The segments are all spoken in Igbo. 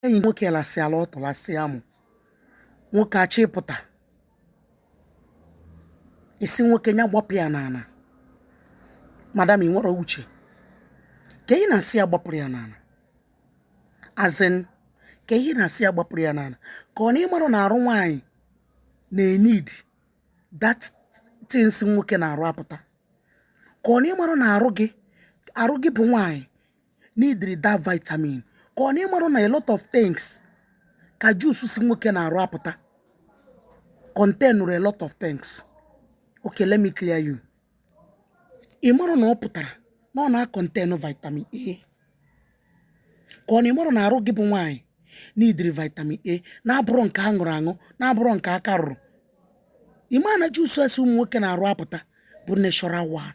enyi nwoke lasịala ọtụ lasịa amụ nwoke achọọ ịpụta ị sị nwoke ya gbapụ ya n'ala madam ị nwere uche ka ị na-asị ya gbapụrụ ya n'ala as in ka ị na-asị ya gbapụrụ ya n'ala ka ọ na ị marụ na arụ nwaanyị na-enid that thing si nwoke n'arụ apụta ka ọ na ị marụ na arụ gị arụ gị bụ nwaanyị nidiri that vitamin ka ọ na ị marụ na a lot of things ka juice si nwoke n'arụ apụta containụrụ a lot of things okay let me clear you ị marụ na ọ pụtara na ọ na-akọntenụ vitamin A ka ọ na ị marụ na arụ gị bụ nwaanyị nidiri vitamin A na-abụrụ nke a rụrụ arụ na-abụrụ nke aka rụrụ ị ma na juice si ụmụ nwoke n'arụ apụta bụ natural one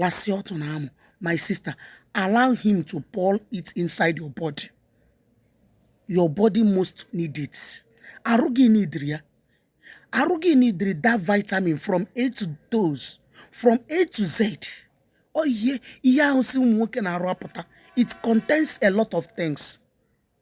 Lasịa ọtụ na amụ, my sister, allow him to pour it inside your body. Your body must need it. Arụ gị nidiri ya. Arụ gị nidiri that vitamin from A to dose, from A to Z. Ọ ihe ihe ahụ si ụmụ nwoke n'arụ apụta. It contains a lot of things.